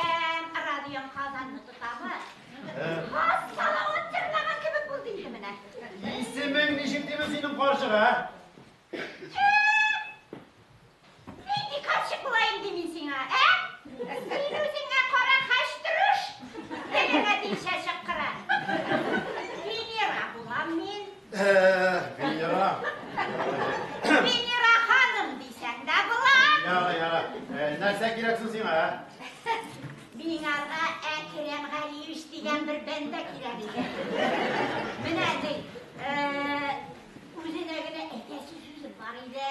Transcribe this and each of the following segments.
Радиом Казанны тотамы? Хас салават җырлаган кебек булды инде менә. Исемең ничек диме синең карчык, ә? Нинди карчык булаем ди мин сиңа, ә? Син үзеңә кара хәчтүреш. Телеңә димчә чыккыра. Венера булам мин. Венера. Венера ханым дисәң дә була. Яра, яра. Нәрсә кирәк соң сиңа? Миңарга Әкрәм Галиевич дигән бер бәндә кирәк иде. Менә ди, үзенә генә әйтәсе сүзем бар иде.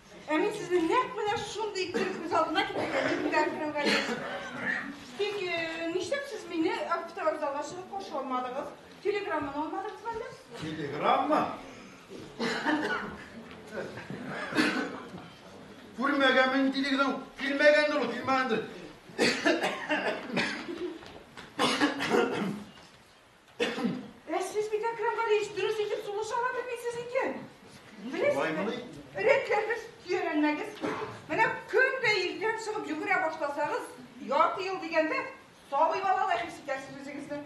Ә мин сезне нәкъ менә шундый итеп күз алдына китердем, Дилбәр Фәүгәлис. Тик э, нишләп сез мине автовокзалга чыгып каршы алмадыгыз? Телеграмманы алмадыгыз әллә? Телеграмма? Күрмәгән мин телеграмм, килмәгәндер ул, килмәгәндер. Ә сез бит, Әкрам Галиевич, дөрес итеп сулыш ала белмисез икән. Беләсезме? Рәтләргез, төйәләнмәгез. Менә көн дә иртән чыгып йөгерә башласагыз, ярты ел дигәндә, сабый балалай хис итәсез үзегезне.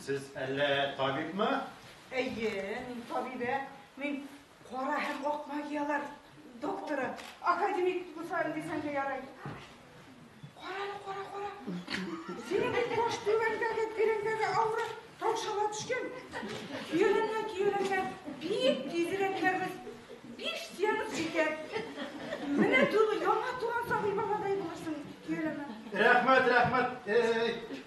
Сез әллә табибмы? Әйе, мин табибә. Мин кара һәм ак магияләр докторы, академик Гусар дисәң дә ярый. Караны, кара, кара. Синең баш түбәндәге тирәндәге авыры таушала төшкән. Киеленә, киеленә. Бик тизрәк кәрбез. Биш сыянып җитәр. Менә түгел, яңа туган сабый баладай булырсың, киеленә. Рәхмәт, рәхмәт. Эй, эй, эй.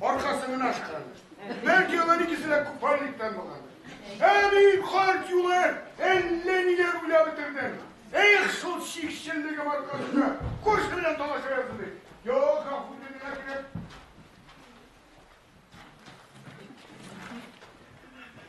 аркасын гына ашканадыр. Бәлки алар икесе дә купальниктан булгандыр. Ә мин карт юлы әллә ниләр уйлап бетердем. Эх, шул чикчеллегем аркасында күрше белән талаша язды бит. Юк, гафу итегез, әкрен.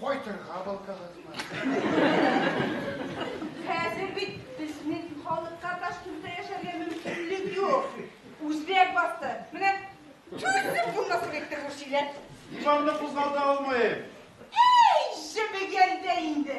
Кайтырга балтагызмы? Хәзер бит безнең халыкка Ташкентта яшәргә мөмкинлек юк. Үзбәк басты. Менә чүтеп булмасын итте бу сөйлә. Диванны кузгалта алмыйм. Әй, җебегәндә инде.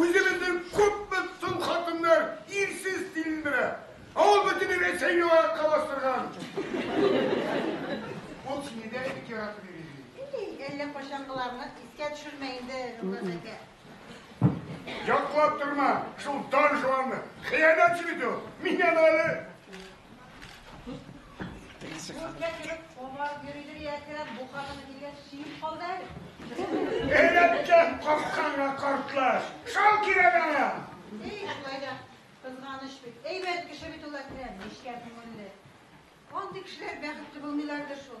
Үзебезнең күпме сум хатыннар ирсез тилендерә, ә ул бөтен Рәсәйне аякка бастырган. Ул сине дә бик яратып йөри ди. Ий, әллә кайчангыларны искә төшермә инде, Нургаз әкә. Яклап торма шул Дон Жуанны, хыянәтче бит ул. Мин аны әле. Эләккән капканга картлаш. Шал кирәк аңа. Эй, шулай да кызганыч бит. Әйбәт кеше бит ул Әкрәм, нечкә күңелле. Андый кешеләр бәхетле булмыйлардыр шул.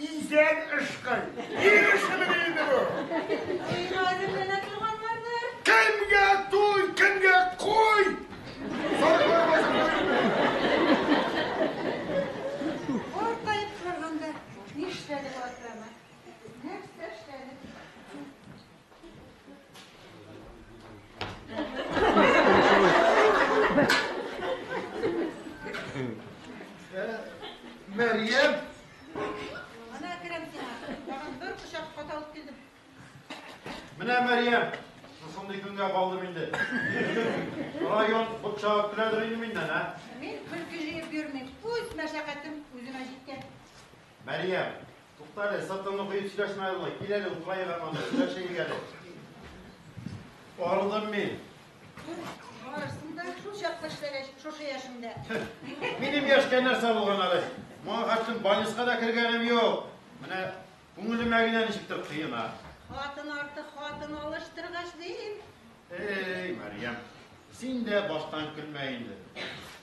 Изән ышкый. Ир эшемени инде бу? Өйне әзерләнә торганнардыр. Кемгә туй, кемгә куй? Сарыклар басып Картаеп торганда нишләде бу атрамы? Нәрсә эшләде? Мәрьям! Ана керәм сиңа. Тагын бер кочак хат алып килдем. Менә Мәрьям, шушындый көнгә калдым инде. Район бутчагып көләдер инде миннән, ә? Мин көлке җыеп йөрмим. Үз мәшәкатем үземә җиткән. Мәрьям, тукта әле, сыртыңны коеп сөйләшмә әле, кил әле, утыраек аңа да, сөйләшәйек әле. Арыдым мин. Арырсың да, шул чакта эшләгәч, шушы яшендә. Минем яшькә нәрсә булган әле? Моңа хәтлем больницка да кергәнем юк. Менә күңелемә генә ничектер кыена. Хатын арты хатын алыштыргач, дим. Эй, Мәрьям, син дә баштан көлмә инде.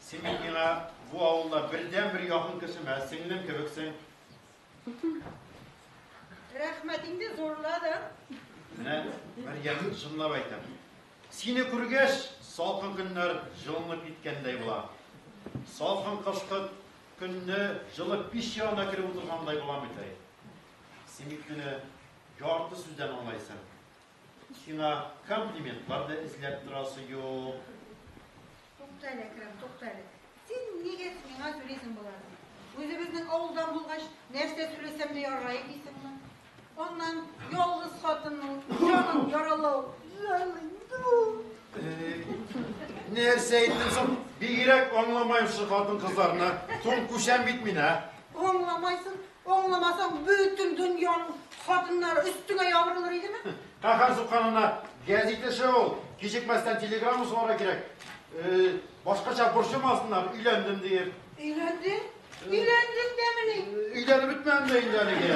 Син бит миңа бу авылда бердәнбер якын кешем, ә сеңлем кебексең. Рәхмәт инде зурладың. Менә Мәрьям чынлап әйтәм. Сине күргәч, салкын көннәр җылынып киткәндәй була. Салкын кышкы көнне җылы пич янына кереп утыргандай булам бит әй. Син бит мине ярты сүздән аңлайсың. Сиңа комплиментлар да эзләп торасы юк. Тукта әле, Әкрәм, тукта әле. Син нигә миңа сөйлисең боларны? Үзебезнең авылдан булгач, нәрсә сөйләсәм дә ярый дисеңме? Аннан ялгыз хатынның җанын яралау Нәрсә әйттем соң? Бигрәк аңламаем шул хатын кызларны. Соң күчәм бит мин, ә? Аңламайсың, Аңламасаң, бөтен дөньяның хатыннары өстеңә ябырылыр идеме? Каһәр сукканына гәзит эше ул. Кичекмәстән телеграмма сугарга кирәк. Э, башкача борчымасыннар, өйләндем диеп. Өйләндең? Өйләндең дәмени? Өйләнеп бетмәдем дә инде әлегә.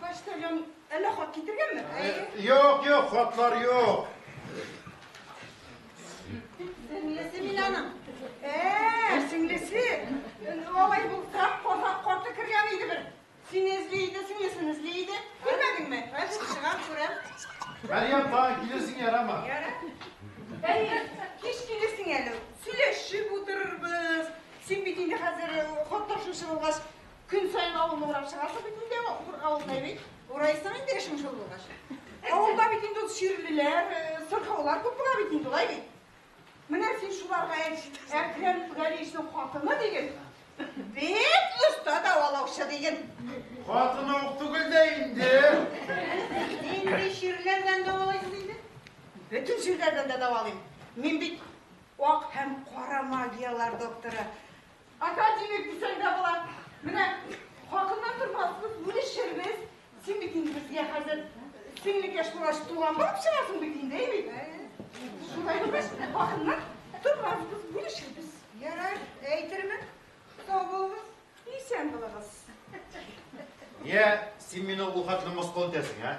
Почтальон әллә хат китергәнме? Юк, юк, хатлар юк. Сеңлесе мин аның. Ә, сеңлесе. Алай булса, казак карты кергән иде бер. Сине эзли иде, сеңлесен эзли иде. Күрмәдеңме? Хәзер чыгам, күрәм. Мәриям, тагын килерсең ярама. Яра. Әйе, кич килерсең әле. Сөйләшеп утырырбыз. Син бит инде хәзер хат ташучы булгач, Көн сайын авылны урап чыгасың бит инде, авылда бит. Урайсың инде эшең шул булгач. Авылда бит инде чирлеләр, э, сырхаулар күп була бит инде, улай бит. Менә син шуларга әйт, Әкрәм Гәрисның хатыны диген. Бик оста давалаучы диген. Хатыны ук түгел дә инде. Нинди чирләрдән давалыйсыз инде? Бөтен чирләрдән дә давалыйм. Мин бит ак һәм кара магияләр докторы. Ата димик дисәң дә була. Менә хакыннан тормассыз, үлешербез. Син бит инде безгә хәзер сеңлекәш булгач туган булып чыгасың бит инде, әйе бит? Шулай булгач, хакыннан тормассыз, үлешербез. Ярар, әйтермен. Сау булыгыз, исән булыгыз. Йә, син мине ул хәтле мыскыл итәсең, ә?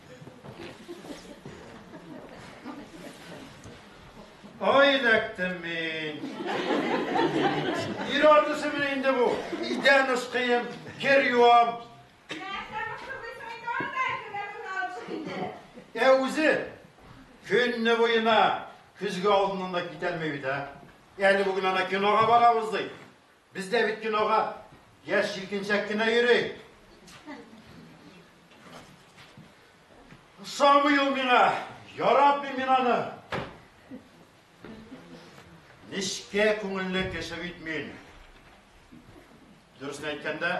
Ай, эләктем мин. Ир артысы менә инде бу. Идән ысқыйм, кер юам. Ә үзе көнне буена көзге алдыннан да китәлмәй бит, ә? Әле бүген ана кинога барабыз ди. Без дә бит кинога яшь җилкенчәк кенә йөри. Ошамый ул миңа. Яратмыйм мин аны. Нечкә күңелле кеше бит мин. Дөресен әйткәндә,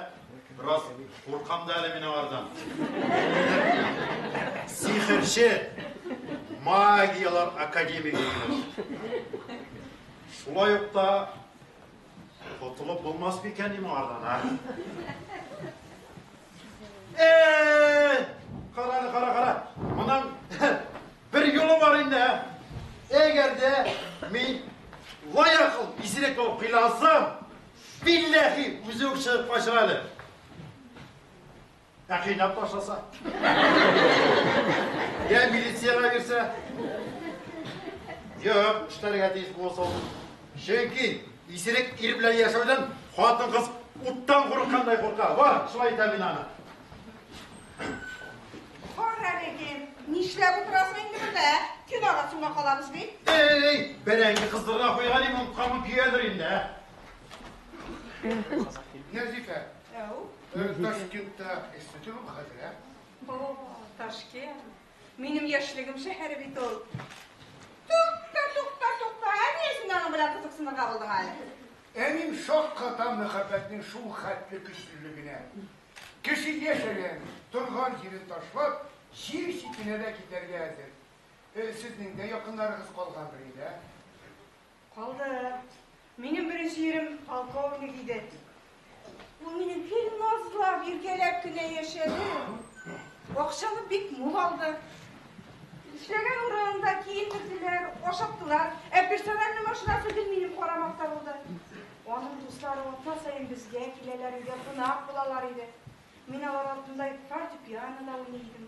бераз куркам да әле мин аңардан. Сихерче магияләр академигы. Шулай ук та Котылып булмас микән ни моңардан, а? Э! Кара, кара, кара. Моның бер юлы бар инде, ә? Әгәр дә мин лаякыл исерек булып кыйлансам, билләһи, үзе үк чыгып качыр әле. Ә кыйнап ташласа? Я милицияга бирсә? Юк, эшләргә тиеш булса ул. Чөнки исерек ир белән яшәүдән хатын-кыз уттан курыккандай курка. Бар, шулай итәм мин аны. Кара регем, нишләп утырасың инде монда? Көн арасында калабыз бит. Эй, бәрәңге кыздырырга куйган идем, кабып җыядыр инде. Нәзифә, Әу. Ташкентта эшләтер ул хәзер, ә? О, Ташкент. Минем яшьлегем шәһәре бит ул. Тукта, тукта, тукта. Ә ни өчен аның белән кызыксынырга булдың әле? Әним шакката мәхәббәтнең шул хәтле көчлелегенә. Кеше яшәгән, торган җирен ташлап, җир читенә дә китәргә әзер. Э, Сезнең дә якыннарыгыз калгандыр инде, ә? Калды. Минем беренче ирем полковник иде. Ул минем бик назлап, иркәләп кенә яшәде. Акчаны бик мул алды. Эшләгән урынында киендерделәр, ашаттылар. Ә персональный машинасы гел минем карамакта булды. Аның дуслары атна саен безгә киләләр, өйдә кунак булалар иде. Мин алар артында фортепианода уйный идем.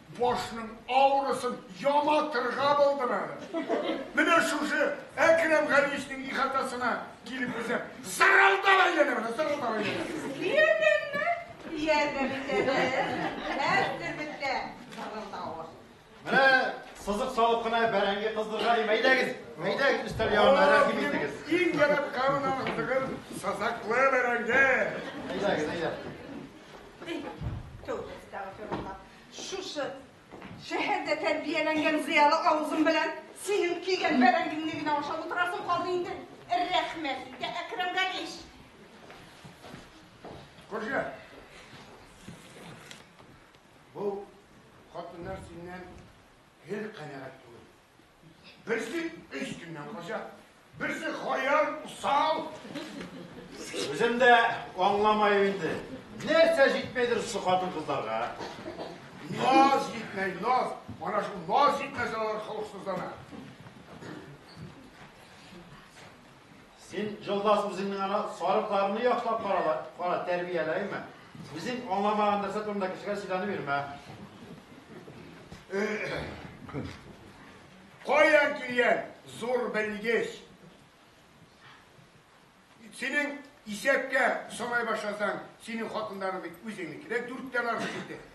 Башның авырысын яматырга булдым әле. Менә шушы Әкрәм Галиевичның ихатасына килеп үзем зырылдап әйләнә менә, зырылдап әйләнә. Сиздеңме? Ияргә бетәбез. Әз төрбеттә зырылдавы. Менә сызык салып кына бәрәңге кыздырырга дим. Әйдәгез, әйдәгез, өстәл ягына рәхим итегез. Иң ярап карунан кыздырган сазаклы бәрәңге. Әйдәгез, әйдәгез. Төгез тагы зырылдап. Шушы шәһәрдә тәрбияләнгән зыялы авызым белән синең кигән бәрәңгеңне генә ашап утырасың калды инде. Рәхмәт инде, Әкрәм Галич. Күрше. Бу хатыннар синнән гел канәгать түгел. Берсе өч көннән кача, берсе хаяр, усал. Үзем дә аңламаю инде. Нәрсә җитмәйдер шушы хатын-кызларга? Наз җитмәй, наз. Ана шул наз җитмәсә алар холыксызлана. Син, Җолдас, үзеңнең ана сарыкларны яхшылап карала, кара, тәрбиялә, әйме? Үзең аңламаган нәрсә турында кешегә сөйләнеп йөрмә. Каян килгән зур белгеч? Синең исәпкә санай башласаң, синең хатыннарың бит үзеңнеке дә дүрттән артык итеп.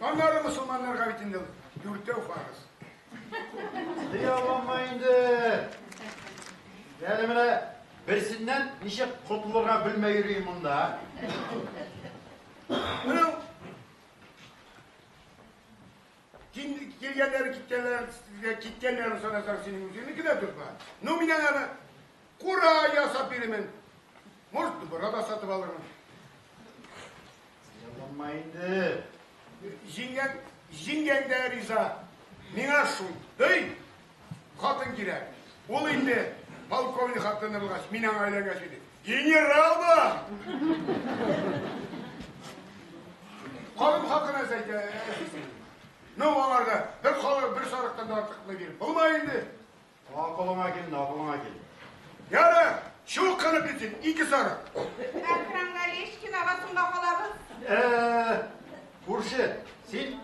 Аннары мосылманнарга бит инде ул дүртәү фарыз. Дия алмама инде. Әле менә берсеннән ничек котылырга белмәй йөрим монда. Менә килгәннәр киткәннәр киткәннәрен санасаң синең үзеңнеке дә дөрба. Ну мин аны Кура ясап бирермен. Может, дубара да сатып алырмын. Ялланма инде. Җиңгәң, җиңгәң дә риза. Миңа шундый хатын кирәк. Ул инде полковник хатыны булгач, мин аңа өйләнгәч иде. Генерал була! Халым хакына әйтә. Ну, аңарда бер халык, бер сарыктан да артыкны биреп булмай инде. Аңа кулыңа кил, на кулыңа кил. Яра, чук кына битен, ике сары. Әкрам Галишкин агасын бакалабыз. Э, күрше, син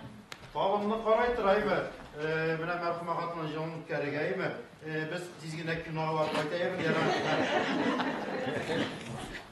табынны карай торайбы? Э, менә мәрхүмә хатынның җылын үткәрергәйме? Э, без тиз генә кинога барып кайтайбыз, яра.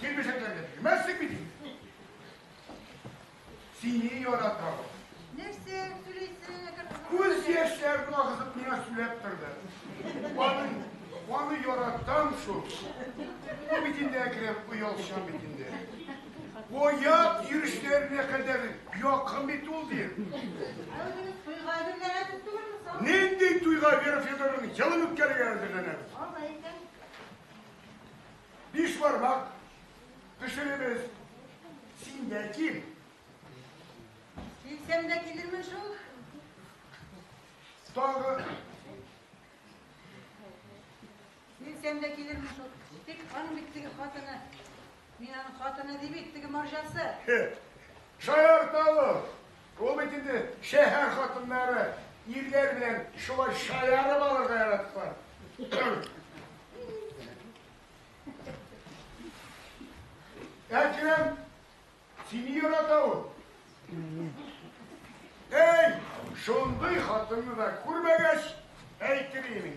Килмешәк әллә бирмәссең бит инде. Сине яратам. Нәрсә сөйлисең, әгәр Күз яшьләрен агызып миңа сөйләп торды. Аны, аны яратам шул. Бу бит инде әкрен оялчан бит инде. Оят йөрешләренә кадәр якын бит ул ди. Туйга әзерләнәсез түгелме соң? Нинди туйга Вера Федоровна елын үткәрергә әзерләнәбез. Алай икән. Биш бармак пешеребез. Син дә кил. Килсәм дә килермен шул. Тагы. Килсәм дә килермен шул. Тик аның бит теге хатыны. Мин аның хатыны ди бит, теге марҗасы. Шаярталык. Ул бит инде шәһәр хатыннары, ирләр белән шулай шаярып алырга яраталар. Әкрәм, сине ярата ул. Әй, шундый хатынны да күрмәгәч, әйтер инең.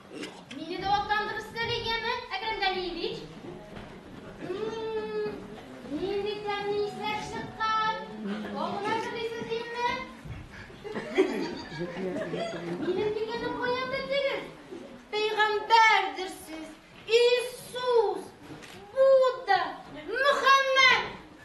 Мине дә атландырып сәләй яме, Әкрәм Галиевич. Нинди тәмле исләр чыккан. Аңына кырдыйсыз инде. Минем дигәнем каян белдегез? Пәйгамбәрдер сез. Иисус.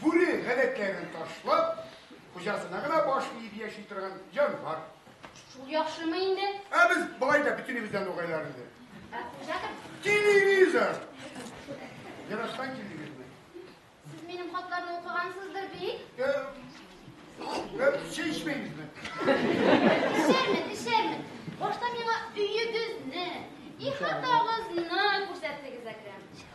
Бүре гадәтләрен ташлап, хуҗасына гына баш иеп яши торган җанвар. Шул яхшымы инде? Ә без болай да бөтенебездән угайлар инде. Ә хуҗа кем? Телевизор! Ярашкан килдегезме? Сез минем хатларны укыгансыздыр бит? Э, э, чәй эчмәймезме? Эчәрмен, эчәрмен. Башта миңа өегезне, ихатагызны күрсәттегез, Әкрәм.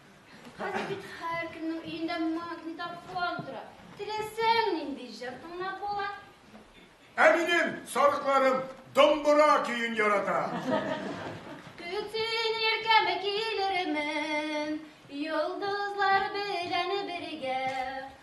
Хәзер бит һәркемнең өендә магнитофон тора. Теләсәң нинди җыр тыңлап була. Ә минем сарыкларым домбыра көен ярата. Көтсен иркәме килермен, йолдызлар белән бергә.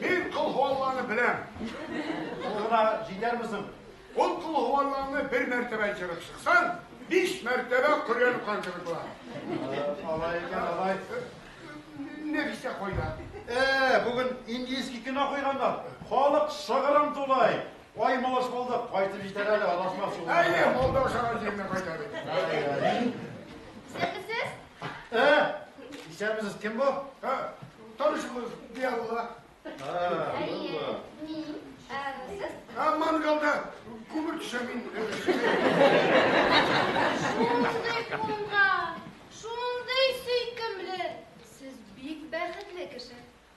Мин Кол Һуалланы беләм. Ул гына җитәрме соң? Ул Кол Һуалланы бер мәртәбә җырып чыксаң, биш мәртәбә Коръән укыган кебек була. Алай икән, алай. Нәфисә кайда? Э, бүген индийский кино куйганнар. Халык шыгрым тулай. Ай, малыш булдык, кайтып җитәр әле, адашмас юлларда. Әйе, Молдовшага җиренә кайта бит. Әй, әй. Исәнмесез! Исәнмесез, кем бу? Танышыбыз Диалла. Әйе, мин. Сез? Мангалда күмер төшә мин. Шундый куңган, шундый сөйкемле. Сез бик бәхетле кеше.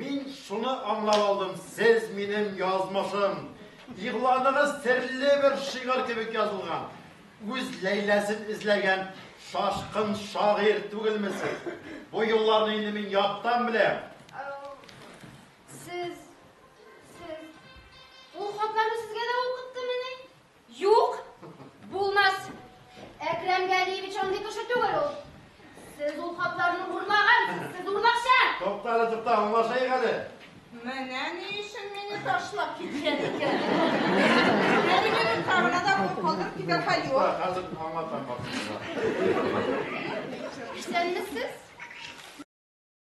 Мин шуны аңлап алдым, сез минем язмышым. Игъланыгыз серле бер шигырь кебек язылган. Үз Ләйләсен эзләгән шашкын шагыйрь түгелме сез? Бу юлларны инде мин яттан беләм. Сез, сез... Ул хатларны сезгә дә укыттымыни? Юк, булмас. Әкрәм Галиевич андый кеше түгел ул. Сез ул хатларны урлаган, сез урлакчы. Тукта, тукта, аңлашайык әле. Менә ни өчен мине ташлап киткән икән. Әлеге карына да калдырып китәр хәл юк. Хәзер аңлатам баксызга. Исәнмесез?